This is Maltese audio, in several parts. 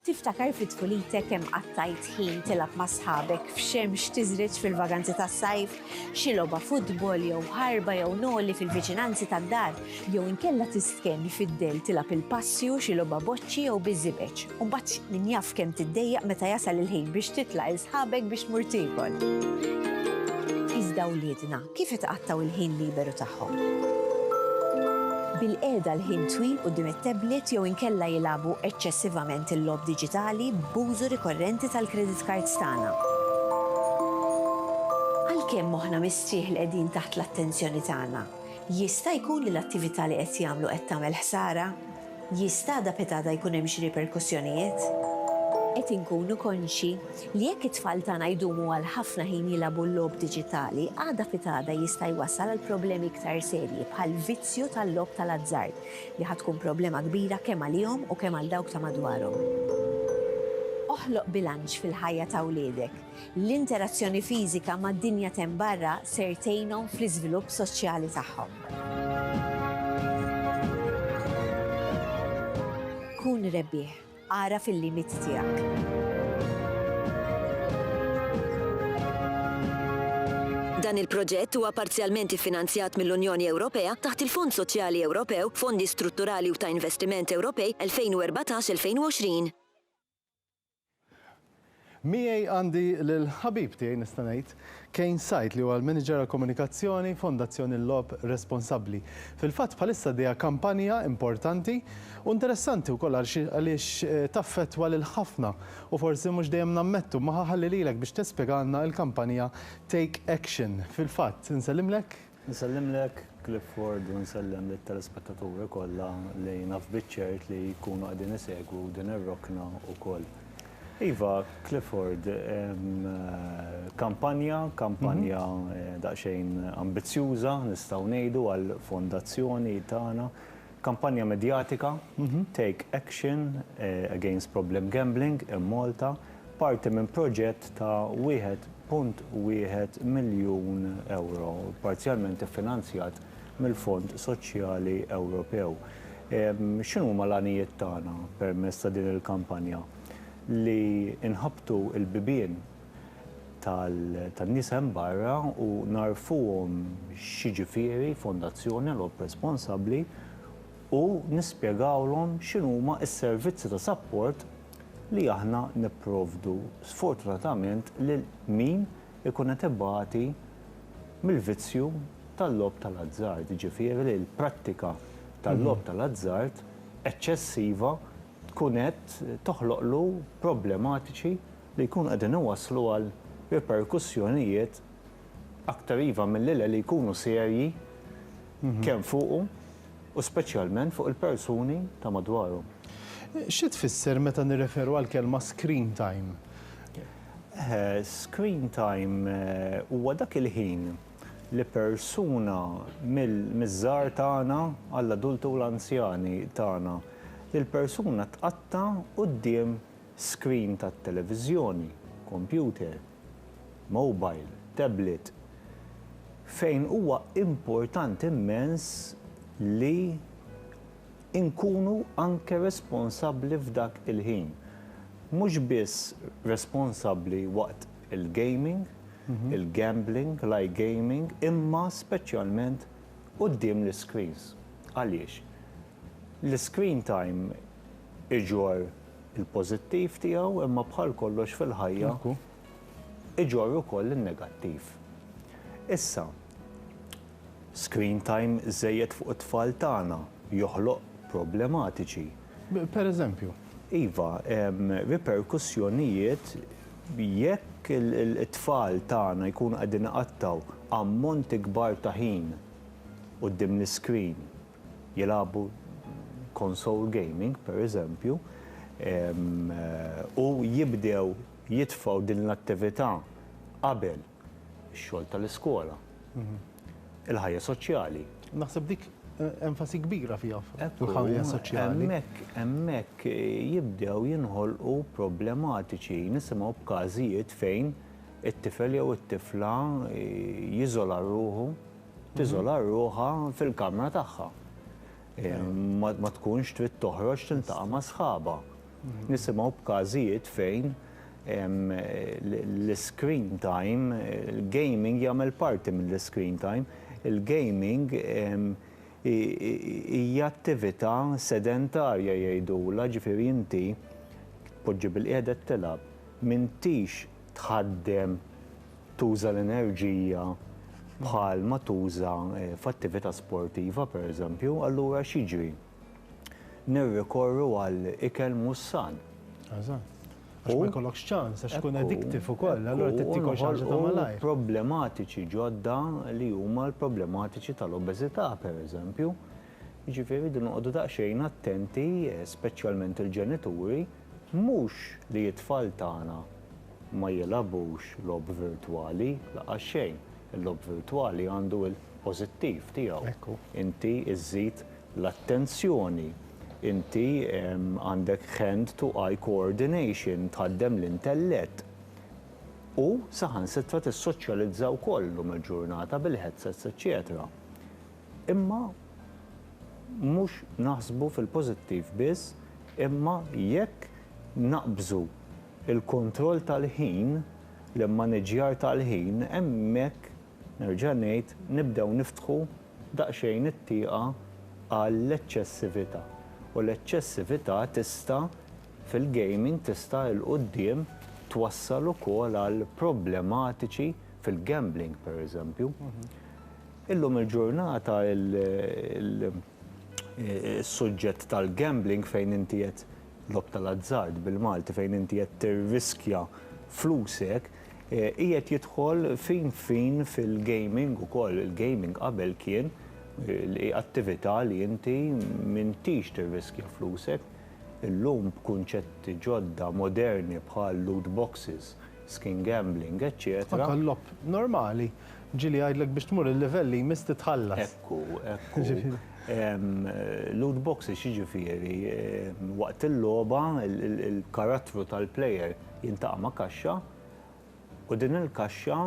Tiftakar fi tfulitek kemm qattajt ħin tilgħab ma' sħabek f'xemx tiżriġ fil-vaganzi tas-sajf? Xi logħba futbol jew ħarba jew noli fil-viċinanzi tad-dar? Jew inkella tistkenni fid-dell tilgħab il-passju, xi logħba boċċi jew biż-żibeġ? U mbagħad min jaf kemm tiddejjaq meta jasal il-ħin biex titla' 'l sħabek biex tmur tiekol? Iżda wliedna, Kif itqattgħu l-ħin liberu tagħhom? Bil-qiegħda għal ħin twil quddiem it-tablet jew inkella jilagħbu eċċessivament il-logħob diġitali b'użu rikorrenti tal-credit cards tagħna. Għalkemm moħħna mistrieħ li qegħdin taħt l-attenzjoni tagħna, jista' jkun li l-attività li qed jagħmlu qed tagħmel ħsara? Jista' da pitada jkun hemm xi riperkussjonijiet? Qed inkunu konxji li jekk it-tfal tagħna jdumu għal ħafna ħin jilagħbu l-logħob diġitali, għada pitada jista' jwassal għal problemi iktar serji bħall-vizzju tal-logħob tal-azzard, li ħa tkun problema kbira kemm għalihom u kemm għal dawk ta' madwarhom. Oħloq bilanċ fil-ħajja ta' wliedek. L-interazzjoni fiżika mad-dinja t'hemm barra ser tgħinhom fl-iżvilupp soċjali tagħhom. Kun rebbieħ. Agħraf il-limiti tiegħek. Dan il-proġett huwa parzjalment iffinanzjat mill-Unjoni Ewropea taħt il-Fond Soċjali Ewropew, Fondi Strutturali u ta' Investiment Ewropej 2014-2020. Miegħi għandi lill-ħabib tiegħi nista' ngħid, Kane Said li huwa l-Manager għall-Komunikazzjoni, Fondazzjoni L-Logħob Responsabbli. Fil-fatt bħalissa għaddejja kampanja importanti u interessanti wkoll għaliex taffettwa lil ħafna u forsi mhux dejjem nammettu. Magħha ħalli lilek biex tispjegalna l-kampanja Take Action. Fil-fatt, insellimlek. Nsellimlek Clifford u nsellem lit-telespettaturi kollha li naf biċ-ċert li jkunu qegħdin isegwu din ir-rokna wkoll. Iva, Clifford, kampanja, kampanja daqsxejn ambizzjuża nistgħu ngħidu għall-fondazzjoni tagħna Kampanja medjatika, Take Action Against Problem Gambling in Malta, parti minn proġett ta' 1.1 miljun ewro, parzjalment iffinanzjat mill-Fond Soċjali Ewropew. X'inhuma l-għanijiet tagħna permezz ta' din il-kampanja? Li nħabbtu l-bibien tan-nies hemm barra u ngħarrfuhom x'jiġifieri fondazzjoni għal ħobb responsabbli u nispjegawlhom x'inhuma s-servizzi ta' sapport li aħna nipprovdu sfortunatament lil min ikun qed ibati mill-vizzju tal-logħob tal-azzard, jiġifieri li l-prattika tal-logħob tal-azzard eċċessiva tkun qed toħloqlu problematiċi li jkunu qegħdin iwasslu għal riperkussjonijiet aktar iva milli le li jkunu serji kemm fuqu u speċjalment fuq il-persuni ta' madwaru. Xi tfisser meta nirreferu għall-kelma screen time? Screen time huwa dak il-ħin li persuna miż-żgħar tagħna għall-adulti u l-anzjani tagħna, li l-persuna tqatta' quddiem skrin tat-televiżjoni, kompjuter, mowbajl, tablet, fejn huwa importanti mmens li nkunu anke responsabbli f'dak il-ħin. Mhux biss responsabbli waqt il-gaming, il-gambling, l-iGaming, imma speċjalment quddiem l-iscreens. Għaliex? L-iscreen time iġorr il-pożittiv tiegħu imma bħal kollox fil-ħajja iġorr ukoll in-negattiv. Issa, screen time żejjed fuq it-tfal tagħna joħloq problematiċi. Per eżempju? Iva, riperkussjonijiet jekk it-tfal tagħna jkunu qegħdin iqattgħu ammonti kbar ta' ħin quddiem l-iscreen. jilagħbu console gaming, pereżempju, u jibdew jitfgħu din l-attività qabel ix-xogħol tal-iskola, il-ħajja soċjali. Naħseb dik enfasi kbira fiha fil-ħajja soċjali. Hemmhekk jibdew jinħolqu problematiċi. Nisimgħu b'każijiet fejn it-tifel jew it-tifla jiżola ruħu. tiżola ruħha fil-kamra tagħha. Ma tkunx trid toħroġ tiltaqa' ma' sħabha. Nisimgħu b'każijiet fejn l-screen time, il-gaming jagħmel parti mill-screen time, il-gaming hija attività sedentarja jgħidulha, ġifieri inti tpoġġi bilqiegħda qed tilgħab, m'intix tħaddem, tuża l-enerġija bħal ma tuża f'attività sportiva pereżempju, allura x'jiġri? Nirrikorru għal ikel mhux san. Eżatt. Għax ma jkollokx ċans, għax tkun addictive ukoll, allura trid tikol xi ħaġa ta' malajr. Problematiċi ġodda li huma l-problematiċi tal-obeżità pereżempju. Jiġifieri rridu noqogħdu daqsxejn attenti, speċjalment il-ġenituri, Mhux li t-tfal tagħna ma jilgħabux logħob virtwali, laqqas xejn. Il-logħob virtwali għandu l-pożittiv tiegħu. Inti żżid l-attenzjoni, inti għandek hand to eye coordination, tħaddem l-intellett u saħansitra tissoċjalizza wkoll illum il-ġurnata bil-headsets eċċetera. Imma mhux naħsbu fil-pożittiv biss, imma jekk naqbżu l-kontroll tal-ħin, l-immaniġġjar tal-ħin, hemmhekk, nerġa' ngħid, nibdew niftħu daqsxejn it-tieqa għall-eċċessività. U l-eċċessività tista', fil-gaming, tista' 'l quddiem twassal ukoll għal problematiċi fil-gambling, pereżempju. Illum il-ġurnata is-suġġett tal-gambling fejn inti qed, logħob tal-azzard bil-Malti, fejn inti qed tirriskja flusek, qiegħed jidħol fin fin fil-gaming ukoll. Il-gaming qabel kien attività li inti m'intix tirriskja flusek. Illum b'kunċetti ġodda moderni bħal loot boxes, skin gambling, eċċetera. Anke l-logħob normali. Ġieli jgħidlek biex tmur il-livell li jmiss titħallas. Ekku, ekku. Loot boxes jiġifieri waqt il-logħba il-karattru tal-player jintaqa' ma' kaxxa u din il-kaxxa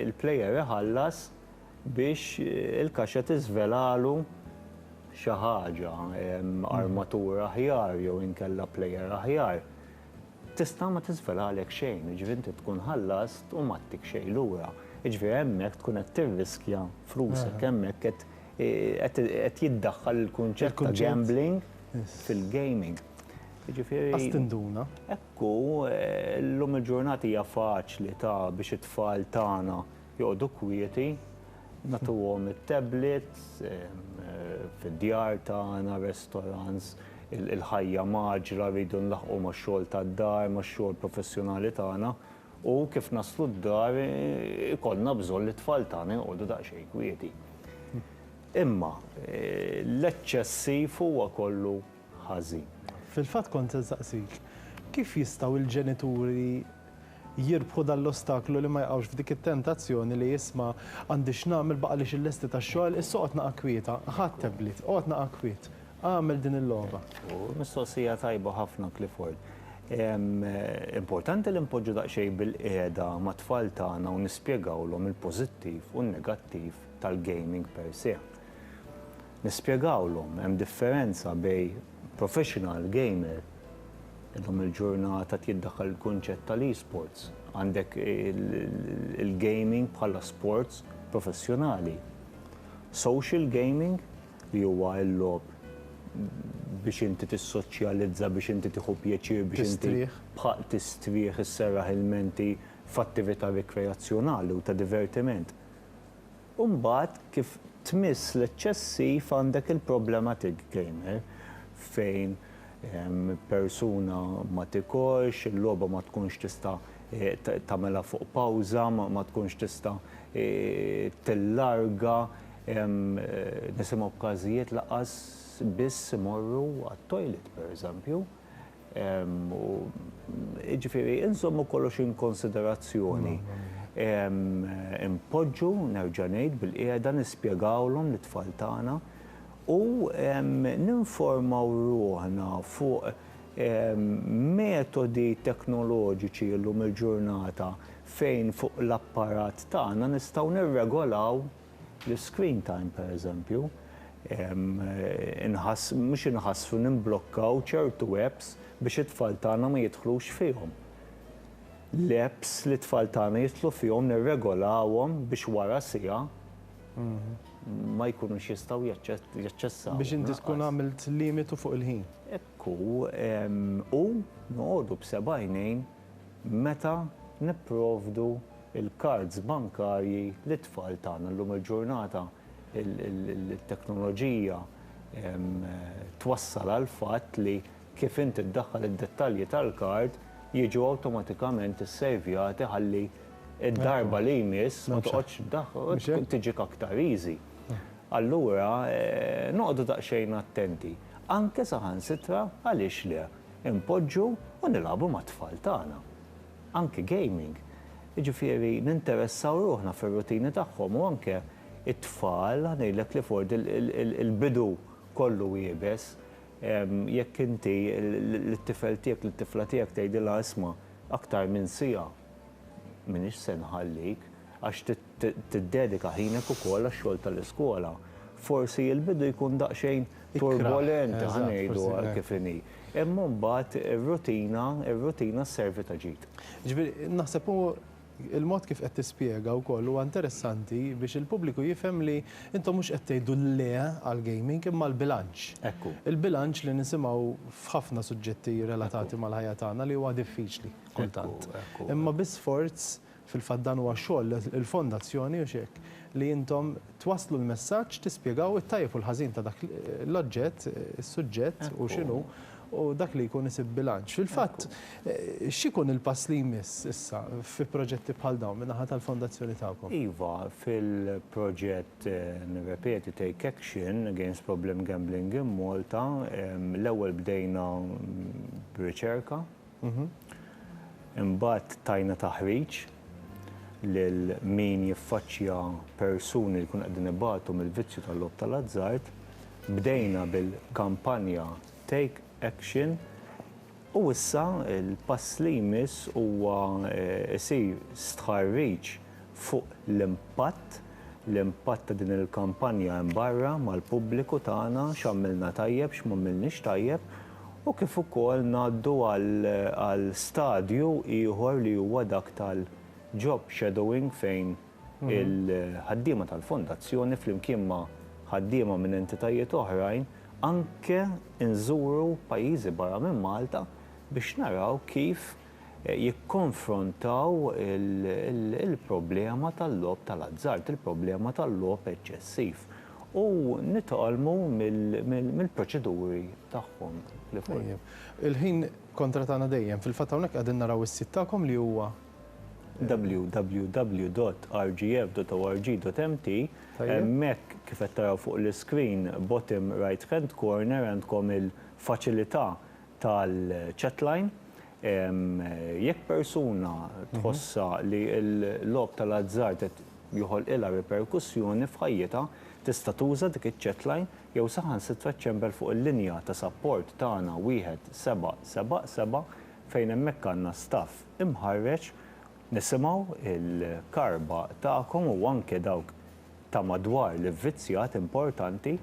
il-player iħallas biex il-kaxxa tiżvelalu xi ħaġa, armatura aħjar jew inkella player aħjar. Tista' ma tiżvelalek xejn, jiġifieri inti tkun ħallast u m'għattik xejn lura. Jiġifieri hemmhekk tkun qed tirriskja flusek, hemmhekk qed qed jiddaħħal il-kunċett ta' gambling fil-gaming. Jiġifieri. Qas tinduna. Hekk hu, llum il-ġurnata hija faċli ta' biex it-tfal tagħna joqogħdu kwieti, nagħtuhom it-tablets, fid-djar tagħna, restaurants, il-ħajja mgħaġġla, rridu nlaħħqu max-xogħol tad-dar, max-xogħol professjonali tagħna, u kif naslu d-dar ikollna bżonn li t-tfal tagħna joqogħdu daqsxejn kwieti. Imma l-eċċessiv huwa kollu ħażin. Fil-fatt kont se nsaqsik, kif jistgħu l-ġenituri jirbħu dan l-ostaklu li ma jaqgħux f'dik it-tentazzjoni li isma' għandi x'nagħmel baqgħalix illesti tax-xogħol, issa oqgħod naqa' kwieta, ħa t-tablet, oqgħod naqa' kwiet, agħmel din il-logħba. Mistoqsija tajba ħafna Clifford. Importanti li npoġġu daqsxejn bilqiegħda mat-tfal tagħna u nispjegawlhom il-pożittiv u n-negattiv tal-gaming per se. Nispjegawlhom hemm differenza bejn professional gamer, illum il-ġurnata qed jiddaħħal il-kunċett tal-esports, għandek il-gaming bħala sports professjonali, social gaming li huwa l-logħob biex inti tissoċjalizza, biex inti tieħu pjaċir, biex inti tistrieħ, isserraħ il-menti f'attività rikreazzjonali u ta' divertiment. U mbagħad kif tmiss l-eċċessiv għandek il-problematic gamer fejn persuna ma tikolx, il-logħba ma tkunx tista' tagħmilha fuq pawża, ma tkunx tista' tillarga, nisimgħu b'każijiet lanqas biss imorru għat-toilet pereżempju. Jiġifieri, inżommu kollox in konsiderazzjoni. Inpoġġu, nerġa' ngħid, bilqiegħda, nispjegawlhom lit-tfal tagħna u ninformaw ruħna fuq metodi teknoloġiċi llum il-ġurnata fejn fuq l-apparat tagħna nistgħu nirregolaw, L-iscreen time pereżempju, inħass, mhux inħass, nimblokkaw ċertu apps biex it-tfal tagħna ma jidħlux fihom. L-apps li t-tfal tagħna jidħlu fihom nirregolawhom biex wara siegħa ma jkunux jistgħu jaċċessawhom. Biex inti tkun għamilt limitu fuq il-ħin. Hekk hu, u noqogħdu b'seba' għajnejn. meta nipprovdu l-kards bankarji lit-tfal tagħna. Llum il-ġurnata t-teknoloġija twassal għall-fatt li kif inti ddaħħal id-dettalji tal-kard jiġu awtomatikament issejvjati ħalli d-darba li jmiss ma toqgħodx tdaħħal, tiġik aktar easy. Allura noqogħdu daqsxejn attenti. Anke saħansitra għaliex le? Inpoġġu u nilagħbu mat-tfal tagħna. Anke gaming. Jiġifieri ninteressaw ruħna fir-rutini tagħhom u anke t-tfal ngħidlek li f'word il-bidu kollu iebes. Jekk inti lit-tifel tiegħek, lit-tifla tiegħek tgħidilha isma' aktar minn siegħa m'iniex se nħallik għax Tiddedika ħinek ukoll għax-xogħol tal-iskola. Forsi l-bidu jkun daqsxejn turbolenti, ħa ngħidu hekk kif inhi. Imma mbagħad ir-rutina, ir-rutina sservi ta' ġid. Jiġifieri, naħseb hu l-mod kif qed tispjega wkoll huwa interessanti biex il-pubbliku jifhem li intom mhux qed tgħidu le għall-gaming imma l-bilanċ. Ekku. Il-bilanċ li nisimgħu f'ħafna suġġetti relatati mal-ħajja tagħna li huwa diffiċli kultant. Ekku, ekku. Imma bi sforz Fil-fatt dan huwa xogħol il-Fondazzjoni, hux hekk? li intom twasslu l-messaġġ, tispjegaw it-tajjeb u l-ħażin ta' dak l-oġġett, is-suġġett hu x'inhu, u dak li jkun isib bilanċ. Fil-fatt, x'ikun il-pass li jmiss issa fi proġetti bħal dawn min-naħa tal-Fondazzjoni tagħkom? Iva, fil-proġett, nirrepeti, Take Action Against Problem Gambling in Malta, l-ewwel bdejna b'riċerka, Imbagħad tajna taħriġ lil min jiffaċċja persuni li jkunu qegħdin ibatu mill-vizzju tal-logħob tal-azzard. Bdejna bil-kampanja Take Action u issa l-pass li jmiss huwa jsir stħarriġ fuq l-impatt, l-impatt ta' din il-kampanja hemm barra mal-pubbliku tagħna, x'għamilna tajjeb, x'm'għamilniex tajjeb. u kif ukoll ngħaddu għal stadju ieħor li huwa dak tal-job shadowing fejn il-ħaddiema tal-Fondazzjoni flimkien ma' ħaddiema minn entitajiet oħrajn anke nżuru pajjiżi barra minn Malta biex naraw kif jikkonfrontaw il-problema tal-logħob tal-azzard, il-problema tal-logħob eċċessiv u nitgħallmu mill-proċeduri tagħhom li fil-fatt. Il-ħin kontra tagħna dejjem. Fil-fatt hawnhekk qegħdin naraw is-sit tagħkom li huwa. www.rgf.org.mt Hemmhekk kif qed taraw fuq l-iscreen, bottom right hand corner, għandkom il-faċilità tal-chatline, jekk persuna tħossha li l-logħob tal-azzard qed joħolqilha riperkussjoni f'ħajjitha, tista' tuża dik iċ-chatline jew saħansitra ċċempel fuq il-linja ta' sapport tagħna 1777 fejn hemmhekk għandna staff imħarreġ, nisimgħu l-karba tagħkom u anke dawk ta' madwar l-ivvizzjat importanti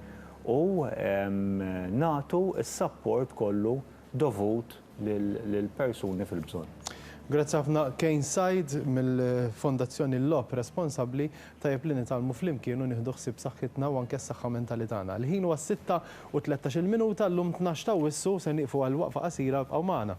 u nagħtu s-sapport kollu dovut lill-persuni fil-bżonn. Grazzi ħafna Kane Said mill-Fondazzjoni L-Logħob Responsabbli, tajjeb li nitgħallmu flimkien u nieħdu ħsieb saħħitna u anke s-saħħa mentali tagħna. Il-ħin huwa s-sitta u tlettax il-minuta, llum tnax ta' Awwissu, se nieqfu għal waqfa qasira, ibqgħu magħna.